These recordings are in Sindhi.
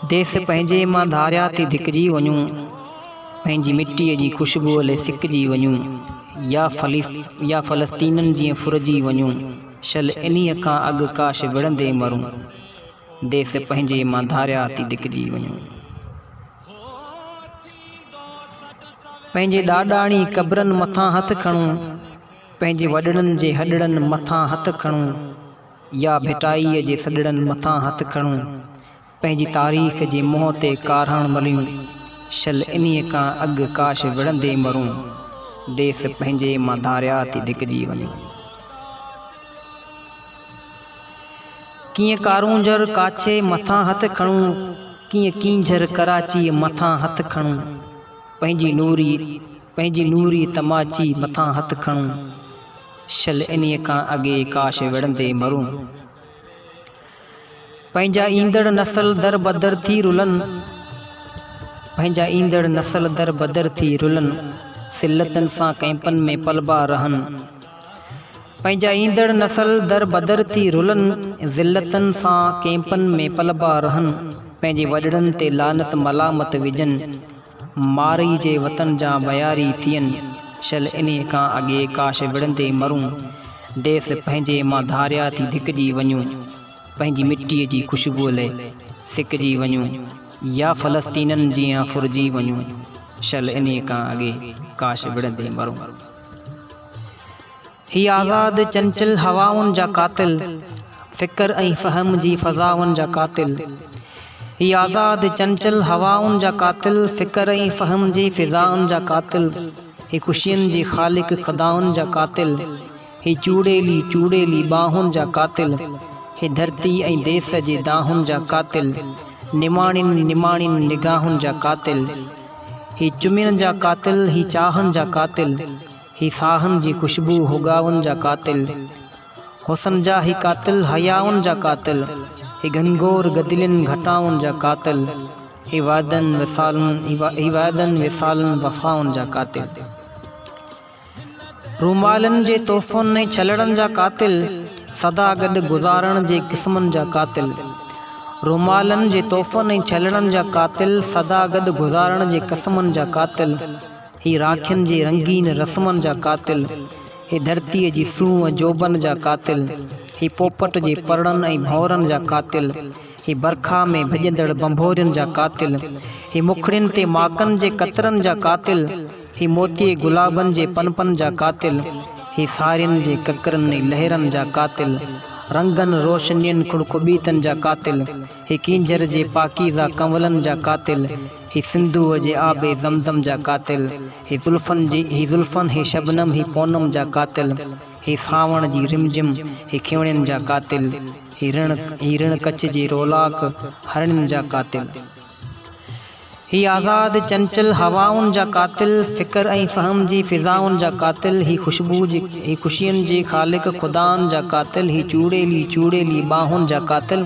ديس پنهنجي مان ڌاريا ٿي ڌڪجي وڃون، پنهنجي مٽيء جي خوشبوء لئه سڪجي وڃون، يا فلسطينن جيئن ڦرجي وڃون. شل انهيء کان اڳ ڪاش وڙهندي مرون، ديس پنهنجي مان ڌاريا ٿي ڌڪجي وڃون. پنهنجي ڏاڏاڻي قبرن مٿان هٿ کڻون، پنهنجي وڏڙن جي هڏڙن مٿان هٿ کڻون يا ڀٽائيء جي سڏڙن مٿان هٿ کڻون، پنهنجي تاريخ جي منهن تي ڪارهاڻ مليون شل انهيء کان اڳ ڪاش وڙهندي مرون ديس پنهنجي مان ڌاريا ٿي ڌڪجي وڃون ڪيئن ڪارونجهر ڪاڇي مٿان هٿ کڻون ڪيئن ڪينجهر ڪراچيء مٿان هٿ کڻون پنهنجي نوري پنهنجي نوري تماچي مٿان هٿ کڻون شل انهيء کان اڳي ڪاش وڙهندي مرون پنهنجا ايندڙ نسل در بدر ٿي رلن، پنهنجا ايندڙ نسل در بدر ٿي رلن، ذلتن سان ڪئمپن ۾ پلبا رهن، پنهنجا ايندڙ نسل در بدر ٿي رلن، ذلتن سان ڪئمپن ۾ پلبا رهن، پنهنجي وڏڙن تي لعنت ملامت وجهن، مارئي جي وطن جا وياري ٿين شل انهي کان اڳي ڪاش وڙهندي مرون ديس پنهنجي مان ڌاريا ٿي ڌڪجي وڃون پنهنجي مٽي جي خوشبوء لئه سڪجي وڃون يا فلسطينين جيان ڦرجي وڃون شل انهي کان اڳي ڪاش وڙهندي مرون. هي آزاد چنچل هوائن جا قاتل فڪر ۽ فهم جي فضائن جا قاتل هي آزاد چنچل هوائن جا قاتل فڪر ۽ فهم جي فضائن جا قاتل هي خوشين جي خالق خدائن جا قاتل هي چوڙيلي چوڙيلي ٻانهن جا قاتل هي ڌرتي ۽ ديس جي دانهن جا قاتل نماڻين نماڻين نگاهن جا قاتل هي چمين جا قاتل هي چاهن جا قاتل هي ساهن جي خوشبو هوڳائن جا قاتل حسن جا هي قاتل حيائن جا قاتل هي گهنگهور گدلين گهٽائن جا قاتل هي وعدن وصالن هي وعدن وصالن وفائن جا قاتل رومالن جي تحفن ۽ ڇلڙن جا قاتل سدا گڏ گذارڻ جي قسمن جا قاتل رومالن جي تحفن ۽ ڇلڙن جا قاتل سدا گڏ گذارڻ جي قسمن جا قاتل هي راکين جي رنگين رسمن جا قاتل، هي ڌرتيء جي سونهن ۽ جوڀن جا قاتل، هي پوپٽ جي پرڙن ۽ ڀونرن جا قاتل، هي برکا ۾ ڀڄندڙ ڀنڀورين جا قاتل، هي مکڙين تي ماڪن جي قطرن جا قاتل، هي موتيي گلابن جي پنپن جا قاتل، هي سارين جي ڪڪرن ۽ لهرن جا قاتل، رنگن، روشنين، کڙکٻيتن جا قاتل، هي ڪينجهر جي پاڪيزه ڪنولن جا قاتل، هي سنڌوء جي آب زمزم جا قاتل، هي زلفن جي هي زلفن، هي شبنم هي پونم جا قاتل، هي سانوڻ جي رم جم، هي کيوڻين جا قاتل، هي رڻ هي رڻ ڪڇ جي رولاڪ، هرڻين جا قاتل. هي آزاد چنچل هوائن جا قاتل، فڪر ۽ فهم جي فضائن جا قاتل، هي خوشبو جي هي خوشين جي خالق خدائن جا قاتل، هي چوڙيلي چوڙيلي ٻانهن جا قاتل،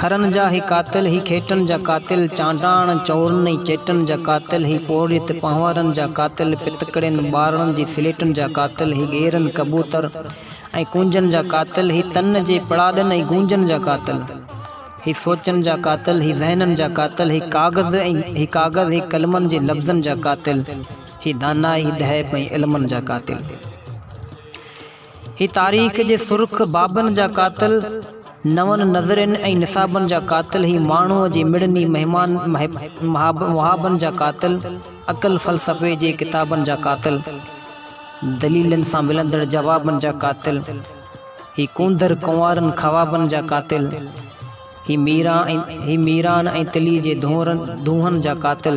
کرن جا هي قاتل، هي کيٽن جا قاتل، چانڊاڻ، چورن ۽ چيٽن جا قاتل، هي پورهيت پنهوارن جا قاتل، پتڪڙين، ٻارڙن جي سليٽن جا قاتل، هي ڳيرن، ڪبوتر ۽ ڪونجن جا قاتل، هي تن جي پڙاڏن ۽ گونجن جا قاتل، هي سوچن جا قاتل، هي ذهنن جا قاتل، هي ڪاغذ ۽ هي ڪاغذ، هي قلمن جي لفظن جا قاتل، هي دانائي، هي ڏهپ ۽ علمن جا قاتل. هي تاريخ جي سرخ بابن جا قاتل، نون نظرين ۽ نصابن جا قاتل، هي ماڻهوء جي مڙني مهمان محابن جا قاتل، عقل فلسفي جي ڪتابن جا قاتل، دليلن سان ملندڙ جوابن جا قاتل، هي ڪونڌر ڪنوارن خوابن جا قاتل، هي ميران ۽ تلي جي دونهن جا قاتل،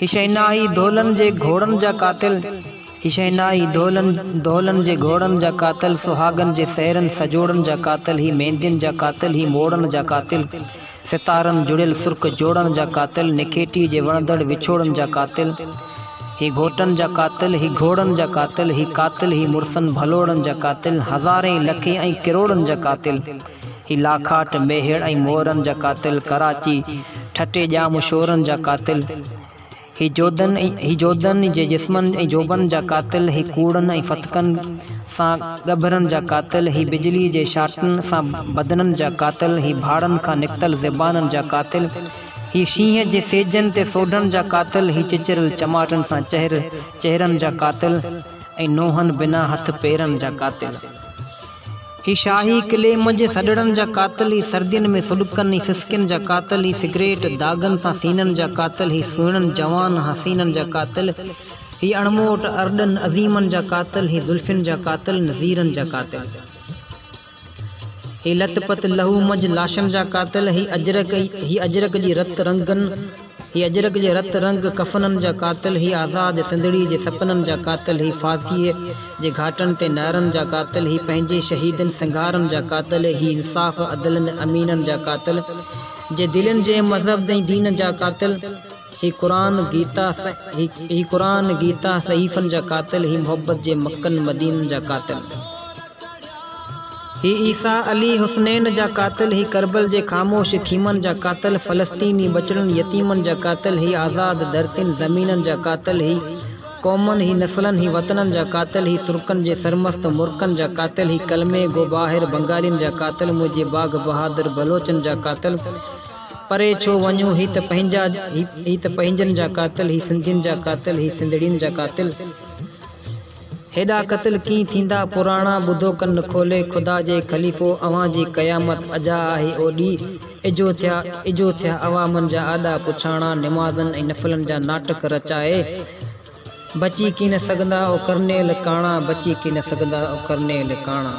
هي شهنائي دولن جي گهوڙن جا قاتل هي شهنائي دولن دولن جي گهوڙن جا قاتل سهاڳن جي سهرن سڄوڙن جا قاتل هي ميندين جا قاتل هي موڙن جا قاتل ستارن جڙيل سرخ جوڙن جا قاتل نکيٽي جي وڻندڙ وڇوڙن جا قاتل هي گهوٽن جا قاتل هي گهوڙن جا قاتل هي قاتل هي مڙسن ڀلوڙن جا قاتل هزارين لکين ۽ ڪروڙن جا قاتل هي لاکاٽ، ميهڙ ۽ مورن جا قاتل، ڪراچي، ٺٽي ڄام شورن جا قاتل، هي جوڌن هي جوڌن جي جسمن ۽ جوڀن جا قاتل، هي ڪوڙن ۽ فتڪن سان ڳڀرن جا قاتل، هي بجلي جي شاٽن سان بدنن جا قاتل، هي ڀاڙن کان نڪتل زبانن جا قاتل، هي شينهن جي سيجن تي سوڍن جا قاتل، هي چچريل چماٽن سان چهر چهرن جا قاتل ۽ نونهن بنا هٿ پيرن جا قاتل. هي شاهي قلعي منجهه سڏڙن جا قاتل، هي سردين ۾ سڏڪن، هي سسڪين جا قاتل، هي سگريٽ داغن سان سينن جا قاتل، هي سهڻن جوان حسينن جا قاتل، هي اڻموٽ ارڏن عظيمن جا قاتل، هي زلفين جا قاتل، نذيرن جا قاتل، هي لت پت لهو منجهه لاشن جا قاتل، هي اجرڪ، هي اجرڪ جي رت رنگن، هي اجرڪ جي رت رنگ ڪفنن جا قاتل، هي آزاد سنڌڙي جي سپنن جا قاتل، هي ڦاسيء جي گهاٽن تي نعرن جا قاتل، هي پنهنجي شهيدن سنگهارن جا قاتل، هي انصاف، عدل ۽ امينن جا قاتل، جي دلين جي مذهب ۽ دين جا قاتل، هي قرآن، گيتا، هي قرآن، گيتا، صحيفن جا قاتل، هي محبت جي مڪن مدينن جا قاتل. هي عيسيٰ، علي، حسنين جا قاتل، هي ڪربل جي خاموش خيمن جا قاتل، فلسطيني ٻچڙن يتيمن جا قاتل، هي آزاد ڌرتين زمينن جا قاتل، هي قومن، هي نسلن، هي وطنن جا قاتل، هي ترڪن جي سرمست مرڪن جا قاتل، هي ڪلمي گو ٻاهر بنگالين جا قاتل، منهنجي باگهه بهادر بلوچن جا قاتل، پري ڇو وڃون هي ته پنهنجا، هي ته پنهنجن جا قاتل، هي سنڌين جا قاتل، هي سنڌڙين جا قاتل. هيڏا قتل ڪيئن ٿيندا پراڻا ٻڌو ڪن کولي خدا جي خليفو اوهان جي قيامت اجها آهي او ڏي اجهو ٿيا اجهو ٿيا عوامن جا آڏا پڇاڻا نمازن ۽ نفلن جا ناٽڪ رچائي بچي ڪين سگهندا او ڪرنيل ڪاڻا بچي ڪين سگهندا او ڪرنيل ڪاڻا.